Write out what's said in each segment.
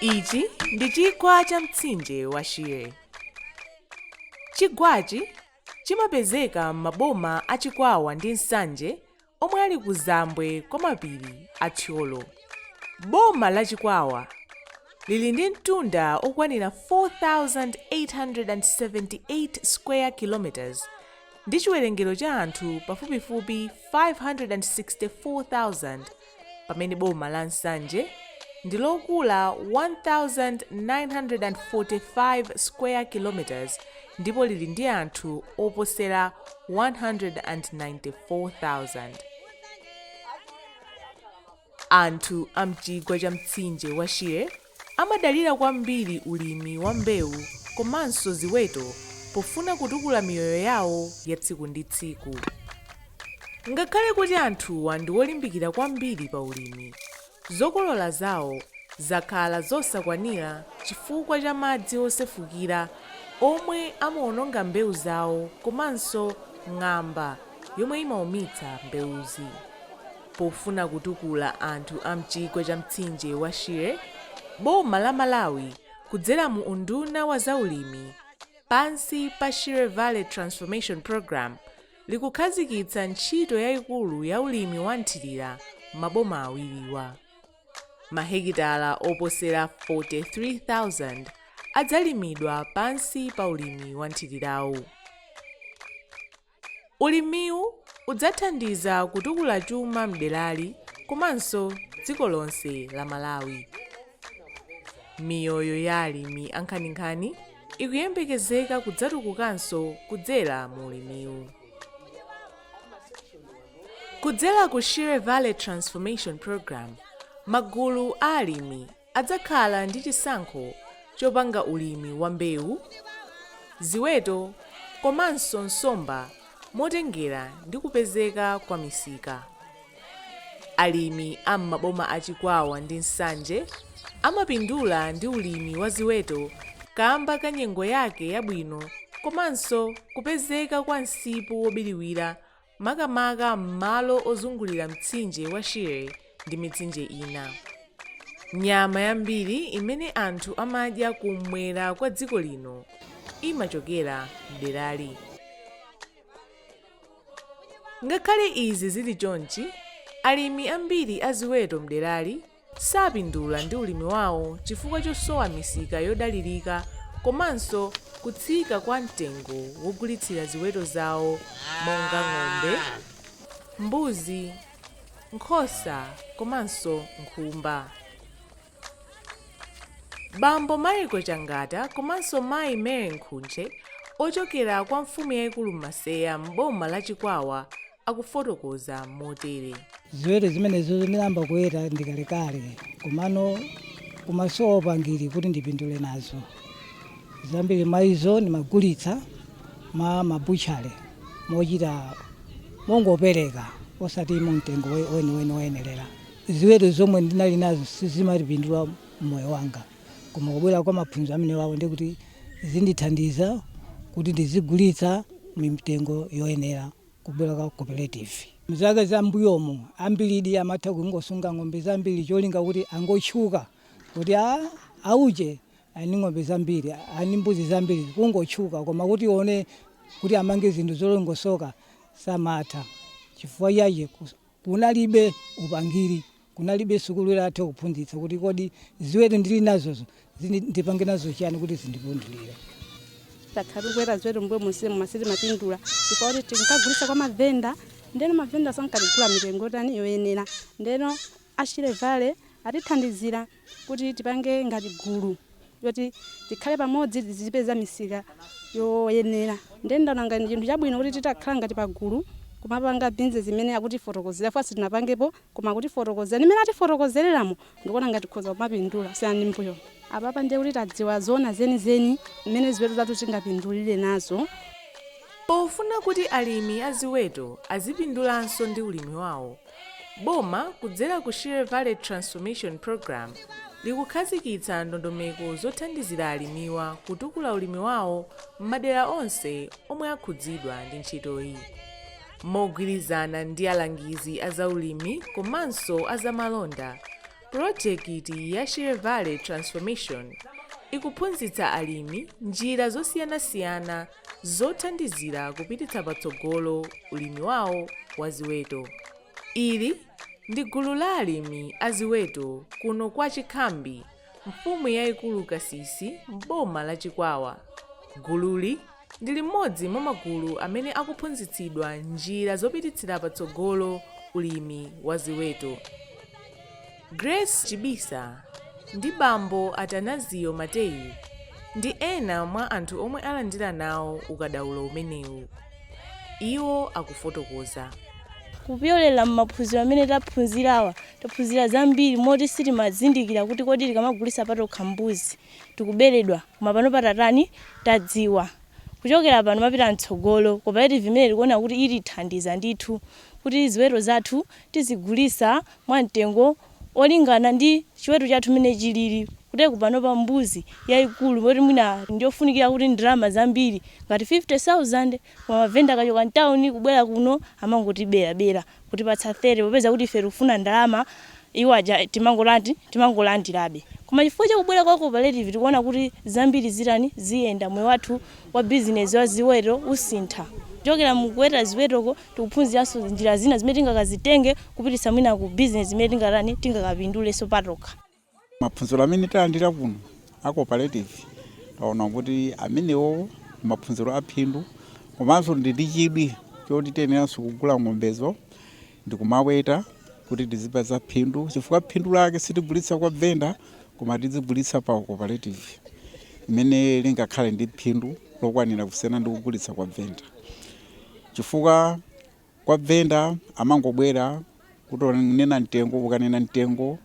ichi ndi chigwa cha mtsinje wa shire chigwachi chimapezeka m'maboma a chikwawa ndi nsanje omwe ali kuzambwe kwa mapiri a Thyolo. Boma la Chikwawa lili ndi mtunda okwanira 4,878 square kilometers ndi chiwerengero cha anthu pafupifupi 564,000 pamene boma la Nsanje ndi lokula 1,945 square kilometers ndipo lili ndi anthu oposera 194,000. Anthu a m'chigwa cha mtsinje wa Shire amadalira kwambiri ulimi wa mbewu komanso ziweto pofuna kutukula miyoyo yawo ya tsiku ndi tsiku. Ngakhale kuti anthuwa ndi olimbikira kwambiri pa ulimi, Zokolola zawo zakhala zosakwanira chifukwa cha madzi osefukira omwe amawononga mbewu zawo komanso ng'amba yomwe imaumitsa mbewuzi. Pofuna kutukula anthu a m'chigwa cha mtsinje wa Shire, boma la Malawi kudzera mu unduna wa zaulimi pansi pa Shire Valley Transformation Programme, likukhazikitsa ntchito yaikulu ya ulimi wa nthirira m'maboma awiriwa. Mahekitala oposera 43,000 adzalimidwa pansi pa ulimi wa nthirirawu. Ulimiwu udzathandiza kutukula chuma m'derali komanso dziko lonse la Malawi. Miyoyo ya alimi ankhaninkhani ikuyembekezeka kudzatukukanso kudzera mu ulimiwu. Kudzera ku Shire Valley Transformation Program, magulu a alimi adzakhala ndi chisankho chopanga ulimi wa mbewu, ziweto komanso nsomba motengera ndi kupezeka kwa misika. Alimi a m'maboma a Chikwawa ndi Nsanje amapindula ndi ulimi wa ziweto kamba ka nyengo yake yabwino komanso kupezeka kwa msipu wobiriwira makamaka m'malo ozungulira mtsinje wa Shire ndi mitsinje ina. Nyama yambiri imene anthu amadya kummwera kwa dziko lino imachokera m'derali. Ngakhale izi zili chonchi, alimi ambiri a ziweto mderali sapindula ndi ulimi wawo chifukwa chosowa misika yodalirika komanso kutsika kwa mtengo wogulitsira ziweto zawo monga ng'ombe, mbuzi, nkhosa komanso nkhumba. Bambo Michael Changata komanso mayi Mary Nkhuche ochokera kwa mfumu yaikulu Maseya m'boma la Chikwawa akufotokoza motere. Ziweto zimenezo ndinayamba kuweta ndikalekale komano kumasowa upangiri kuti ndipindule nazo. Zambiri mwa izo ndimagulitsa mwa mabutchale mochita mongopereka osati mu mtengo weniweni woyenerera. Ziweto zomwe ndinali nazo sizimandipindula mmoyo wanga koma kubwera kwa maphunziro amenewawa ndiye kuti zindithandiza kuti ndizigulitsa mitengo yoyenera kubwera kwa cooperative. Mzaka za mbuyomu ambiridi amatha kungosunga ng'ombe zambiri cholinga kuti angotchuka kuti aah auje ali ndi ng'ombe zambiri ali ndi mbuzi zambiri kungotchuka koma kuti uwone kuti amange zinthu zolongosoka samatha chifukwa chake. Kunalibe upangiri, kunalibe sukulu yotha kuphunzitsa kuti kodi ziweto ndili nazozo ndipange nazo chiyani kuti zindipindulire. Takhala tikuweta ziweto m'mbuyo monsemu koma sitimapindula chifukwa chakuti tinkagulitsa kwa mavenda ndeno mavenda sankatigula mitengo yotani yoyenera ndeno a Shire Valley atithandizira. kuti tipange ngati gulu yoti tikhale pamodzi tizipeza misika yoyenera ndiye ndaona ngati ndi chinthu chabwino kuti titakhala ngati pagulu kumapanga bizinesi imene akutifotokozera fesiti sitinapangepo koma akutifotokozera ndi mmene atifotokozereramo ndikuona ngati tikhoza kumapindula kusiyana ndi m'mbuyo apapa ndiye kuti tadziwa zoona zenizeni mmene ziweto zathu tingapindulire nazo Pofuna kuti alimi a ziweto azipindulanso ndi ulimi wawo, Boma kudzera ku Shire Valley Transformation Programme likukhazikitsa ndondomeko zothandizira alimiwa kutukula ulimi wawo m'madera onse omwe akhudzidwa ndi ntchitoyi. Mogwirizana ndi alangizi a zaulimi komanso a zamalonda, pulojekiti ya Shire Valley Transformation ikuphunzitsa alimi njira zosiyanasiyana zothandizira kupititsa patsogolo ulimi wawo wa ziweto. Ili ndi gulu la alimi a ziweto kuno kwa Chikhambi mfumu yaikulu Kasisi m'boma la Chikwawa. Gululi ndi limodzi mwa magulu amene akuphunzitsidwa njira zopititsira patsogolo ulimi wa ziweto. Grace Chibisa ndi bambo Atanazio Mateyu ndi ena mwa anthu omwe alandira nawo ukadaulo umenewu. Iwo akufotokoza. Kupyolera m'maphunziro amene taphunzirawa, taphunzira zambiri moti sitimazindikira kuti kodi tikamagulitsa patokha mbuzi tikuberedwa koma panopa tatani, tadziwa. Kuchokera pano kumapita mtsogolo, cooperative imeneyi tikuona kuti itithandiza ndithu kuti ziweto zathu tizigulitsa mwa mtengo olingana ndi chiweto chathu mmene chilili kuti panopa mbuzi yaikulu yoti mwina ndiyofunikira kuti ndalama zambiri ngati 50,000 koma mavenda akachoka mtauni kubwera kuno amangotiberabera kutipatsa 30 popeza kuti ife tikufuna ndalama iwo aja timangotani timangolandirabe koma chifukwa cha kubwera kwa cooperative tikuona kuti zambiri zitani ziyenda moyo wathu wa bizinezi wa ziweto usintha kuchokera mukuweta ziwetoko tikuphunziranso njira zina zimene tingakazitenge kupititsa mwina ku business imene tingatani tingakapindulenso patokha. Maphunziro amene talandira kuno a cooperative taona kuti amenewo maphunziro aphindu komanso ndi ndi chidwi choti tiyeneranso kugula ng'ombezo ndikumaweta kuti tizipeza phindu chifukwa phindu lake sitigulitsa kwa venda koma tizigulitsa pa cooperative imene lingakhale ndi phindu lokwanira kusiyana ndi kugulitsa kwa venda. chifukwa kwa venda amangobwera kuti unena mtengo ukanena mtengo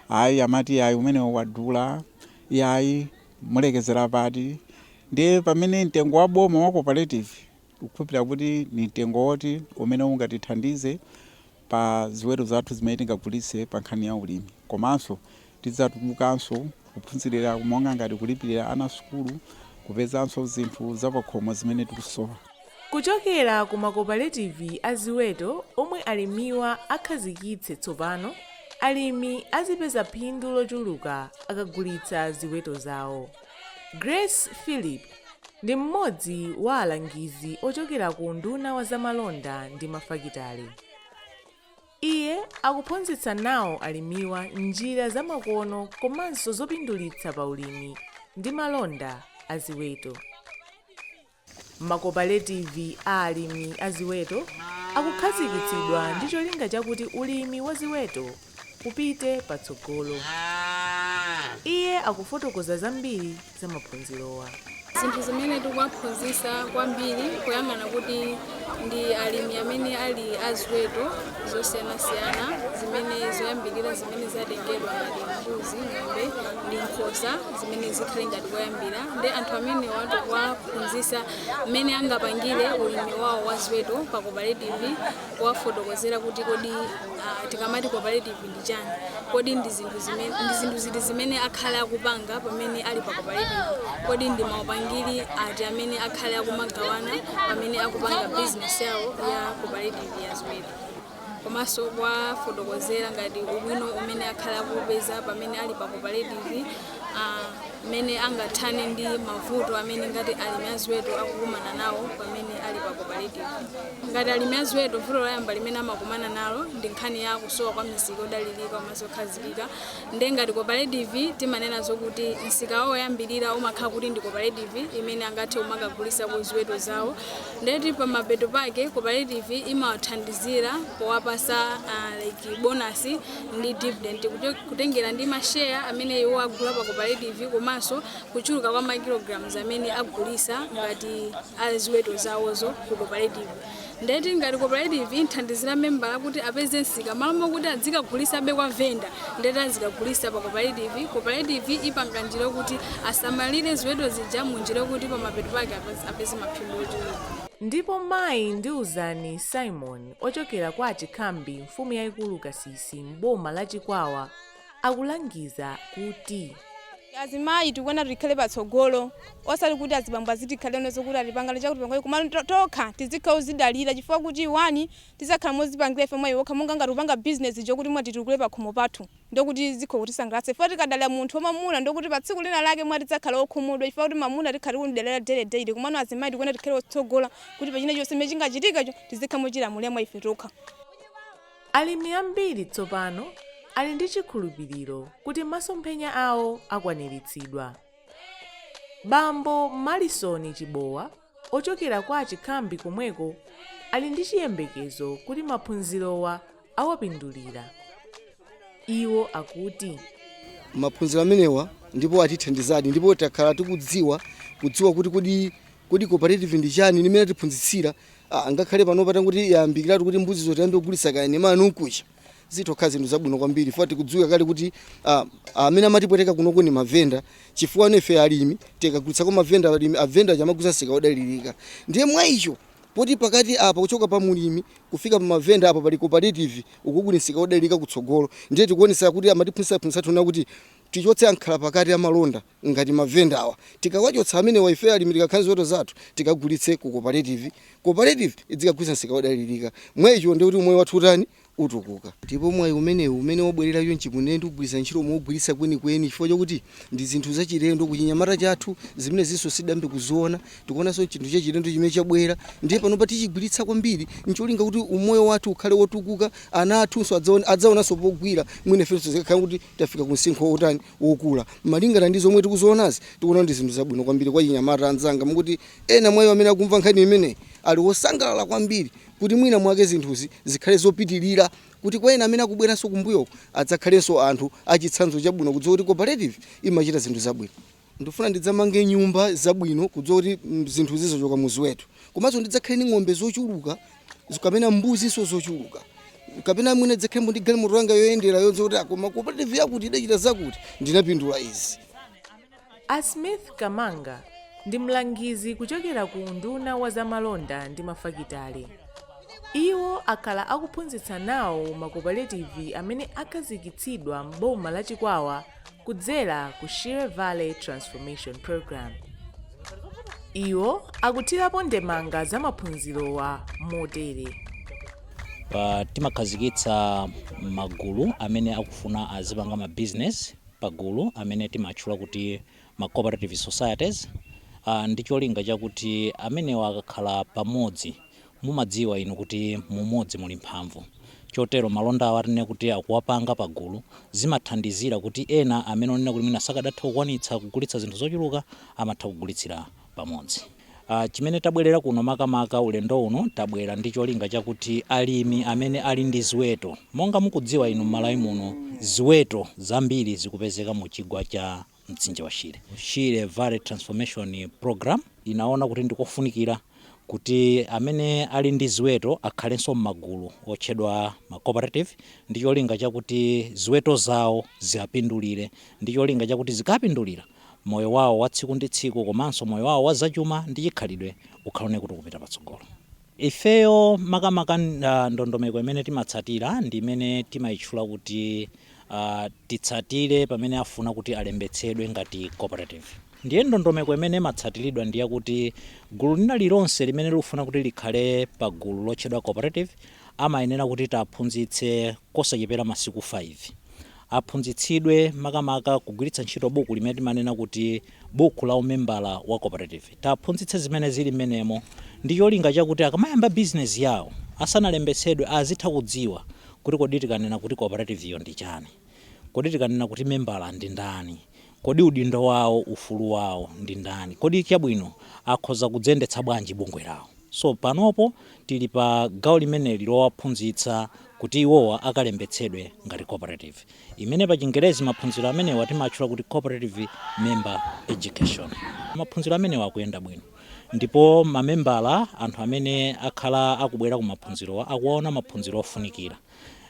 ayi amati ayi umene wadula yayi mulekezera pati ndiye pamene mtengo wa boma wa cooperative tikukhulupirira kuti ni mtengo woti umene ungatithandize pa ziweto zathu zimene tingagulitse pa nkhani ya ulimi. Komanso tidzatukukanso kuphunzirira monga ngati kulipirira ana sukulu, kupezanso zinthu zapakhomo zimene tikusowa. Kuchokera ku makopaletivi a ziweto omwe alimiwa akhazikitse tsopano, alimi azipeza phindu lochuluka akagulitsa ziweto zawo. Grace Philip ndi mmodzi wa alangizi ochokera ku unduna wa zamalonda ndi mafakitale. Iye akuphunzitsa nawo alimiwa njira zamakono komanso zopindulitsa pa ulimi ndi malonda a ziweto. Makopaletivi a alimi a ziweto akukhazikitsidwa ndi cholinga chakuti ulimi wa ziweto upite patsogolo. Iye akufotokoza zambiri za maphunzirowa. Zinthu zimene tikuwaphunzitsa kwambiri kuyang'ana kuti. ndi alimi amene ali a ziweto zosiyanasiyana zimene zoyambirira zimene zatengedwa ngati mbuzi, ng'ombe ndi nkhosa zimene zikhale ngati koyambira nde anthu amenewa tikuwaphunzitsa mmene angapangire ulimi wawo wa ziweto pa cooperative kuwafotokozera kuti kodi ah, tikamati cooperative ndi chani? Kodi ndi zinthu ziti zimene akhale akupanga pamene ali pa cooperative? Kodi ndi maupangiri ati amene akhale akumagawana pamene akupanga business yawo ya cooperative ya ziweto? komanso kuwafotokozera ngati ubwino umene akhale akupeza pamene ali pa cooperative mmene angathane ndi mavuto amene ngati alimi a ziweto akukumana nawo pamene ali pa koparetiva. Ngati alimi a ziweto, vuto loyamba limene amakumana nalo ndi nkhani ya kusowa kwa misika odalirika komanso okhazikika. Ndiye ngati koparetiva timanena zokuti msika wawo woyambirira umakhala kuti ndi koparetiva imene angathe kumakagulisako ziweto zawo. Ndiye kuti pamapeto pake koparetiva imawathandizira powapasa like bonasi. ndi dividend kutengera ndi ma share amene iwo agula pa cooperative komanso kuchuluka kwa ma kilograms amene agulisa ngati a ziweto zawozo ku cooperative ndeti ngati cooperative imthandizira membala kuti apeze msika malo mokuti adzikagulisabe kwa venda ndeti azikagulisa pa cooperative cooperative ipanga njira yokuti asamalire ziweto zija mu njira yokuti pamapeto pake apeze maphindu ochuluka ndipo mayi ndiuzani simon ochokera kwa a Chikhambi mfumu yaikulu Kasisi m'boma la Chikwawa akulangiza kuti. Azimayi tikuyenera tikhale patsogolo osati kuti azibambo azitikhalira nazo kuti atipangana chakuti pangani komano tokha tizikhala ozidalira chifukwa kuti wani tizakhala mozipangira ife mwayi wokha monga ngati kupanga business chokuti mwati titukule pakhomo pathu ndiye kuti zikhoza kutisangalatsa chifukwa tikadalira munthu wa mamuna ndiye kuti pa tsiku lina lake mwina tidzakhala okhumudwa chifukwa kuti mamuna tikhala tikumdalira daily daily komano azimayi tikuyenera tikhale otsogola kuti pa chinachonse chimene chingachitikecho tizikhala mochilamulira mwa ife tokha. Alimi ambiri tsopano ali ndi chikhulupiriro kuti masomphenya awo akwaniritsidwa. Bambo Malisoni Chibowa ochokera kwa a Chikhambi komweko ali ndi chiyembekezo kuti maphunzirowa awapindulira. Iwo akuti. maphunziro amenewa ndipo atithandizadi ndipo takhala tikudziwa kudziwa kuti kodi cooperative ndi chani nimene atiphunzitsira, ngakhale pano patangoti yayambikiratu kuti mbuzizo tiyambe kugulitsa kaene mawa nkucha zitokhala zinthu zabwino kwambiri chifukwa zikudziwika kale kuti ah, amene amatipweteka kunoko ni mavenda chifukwa nefe alimi tikagulitsa kwa mavenda mavenda aja amagulitsa msika odalirika ndiye mwa icho poti pakati apa kuchoka pa mulimi kufika pa mavenda apa pali cooperative ukugulitsa msika odalirika kutsogolo ndiye tikuonesa kuti amatiphunzitsa phunzitsa tiona kuti Tichotse ankhalapakati amalonda ngati mavendawa. Tikawachotsa amenewa, ifeyo alimi tikakhala ziweto zathu tikagulitse ku koparetivi. Koparetivi idzikagulitsa msika wodalirika. Mwaicho, ndiye kuti umoyo wathu utani? Utukuka. Ndipo mwayi umenewu umene wabwerera chonchi kwa ine ndiugwiritsa ntchito mougwiritsa kwenikweni chifukwa chokuti ndi zinthu zachilendo kuchinyamata chathu zimenezinso sitidayambe kuziona. Tikuonanso chinthu chachilendo chimene chabwera ndiye panopa tichigwiritsa kwambiri ncholinga kuti umoyo wathu ukhale wotukuka. Ana athunso adzaone, adzaonanso pogwira mwina ifenso zikakhala kuti. Tafika ku msinkhu wotani? Wokula. Malingana ndi zomwe tikuzionazi, tikuona ndi zinthu zabwino kwambiri kwa achinyamata anzanga mwakuti ena mwa iwo amene akumva nkhani imeneyi ali osangalala kwambiri kuti mwina mwake zinthuzi zikhale zopitirira kuti kwa ena amene akubweranso kumbuyo adzakhalenso anthu achitsanzo chabwino kudziwa kuti cooperative imachita zinthu zabwino. Ndifuna ndidzamange nyumba zabwino kudziwa kuti zinthuzi zochoka mu ziweto. Komanso ndidzakhale ndi ng'ombe zochuluka kapena mbuzinso zochuluka. Kapena mwina ndidzakhale ndi galimoto langa yoyendera yodziwa kuti koma cooperative yakuti idachita zakuti ndinapindula izi. A Smith Kamanga ndi mlangizi kuchokera ku unduna wa zamalonda ndi mafakitale. Iwo akhala akuphunzitsa nawo makopaletivi amene akhazikitsidwa m'boma la Chikwawa kudzera ku Shire Valley Transformation Program. Iwo akuthirapo ndemanga za maphunzirowa motere. Pa- timakhazikitsa magulu amene akufuna azipanga ma business pagulu amene timatchula kuti ma cooperative societies uh, ndi cholinga chakuti amenewa akakhala pamodzi Mumadziwa inu kuti mu umodzi muli mphamvu, chotero malonda awo tinene kuti akuwapanga pagulu, zimathandizira kuti ena amene onena kuti mwina sakadatha kukwanitsa kugulitsa zinthu zochuluka amatha kugulitsira pamodzi. Ah, chimene tabwerera kuno makamaka ulendo uno, tabwera ndi cholinga chakuti alimi amene ali ndi ziweto, monga mukudziwa inu m'Malawi muno ziweto zambiri zikupezeka mu chigwa cha. mtsinje wa Shire. Shire Valley Transformation Program inaona kuti ndikofunikira kuti amene ali ndi ziweto akhalenso m'magulu otchedwa ma cooperative ndi cholinga chakuti ziweto zawo ziwapindulire ndi cholinga chakuti zikapindulira moyo wawo wa tsiku ndi tsiku komanso moyo wawo wa zachuma ndi chikhalidwe ukhale woona kuti ukupita patsogolo. Ifeyo makamaka ndondomeko imene timatsatira ndi imene timaitchula kuti titsatire pamene afuna kuti alembetsedwe ngati cooperative. Ndiye ndondomeko imene imatsatiridwa ndi yakuti gulu lina lililonse limene likufuna kuti likhale pa gulu lotchedwa cooperative amayenera kuti tiwaphunzitse kosachepera masiku 5. Aphunzitsidwe makamaka kugwiritsa ntchito buku limene timanena kuti. buku la umembala wa cooperative. Tiaphunzitse zimene zili mmenemo ndi cholinga chakuti akamayamba bizinezi yawo, asanalembetsedwe azitha kudziwa kuti kodi tikanena kuti kooperativiyo ndi chani, kodi tikanena kuti membala ndi ndani, kodi udindo wawo, ufulu wawo ndi ndani, kodi chabwino akhoza kudziyendetsa bwanji bungwe lawo. So panopo tili pa gawo limeneli lowaphunzitsa kuti iwowa akalembetsedwe ngati cooperative. imene pa chingerezi maphunziro amenewa timatchula kuti Cooperative Member Education. Maphunziro amenewa akuyenda bwino ndipo mamembala anthu amene akhala akubwera ku maphunzirowa akuona maphunziro ofunikira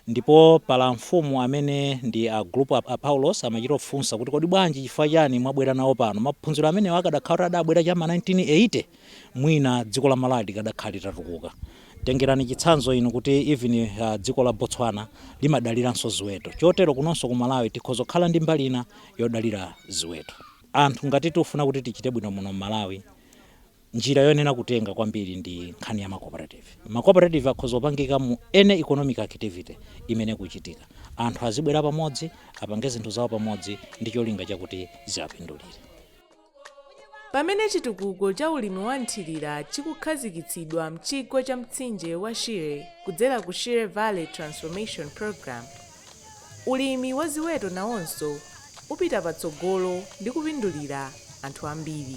ndipo ngakhale mfumu amene ndi a group a Paulos amachita kufunsa kuti kodi bwanji chifukwa chani mwabwera nawo pano maphunziro amenewa akadakhala kuti adabwera cha ma 1980 mwina dziko la Malawi likadakhala litatukuka. Tengerani chitsanzo inu kuti even dziko la Botswana limadaliranso ziweto, chotero kunonso ku Malawi tikhoza kukhala ndi mbali ina yodalira ziweto. Anthu ngati tifuna kuti tichite bwino muno m'Malawi njira yoyenera kutenga kwambiri ndi nkhani ya macooperative. Macooperative akhoza kupangika mu any economic activity imene ikuchitika, anthu azibwera pamodzi apange zinthu zawo pamodzi ndi cholinga chakuti ziwapindulire. Pamene chitukuko cha ulimi wa mthirira chikukhazikitsidwa m'chigwa cha mtsinje wa Shire kudzera ku Shire Valley Transformation Programme, ulimi wa ziweto nawonso upita patsogolo ndi kupindulira anthu ambiri.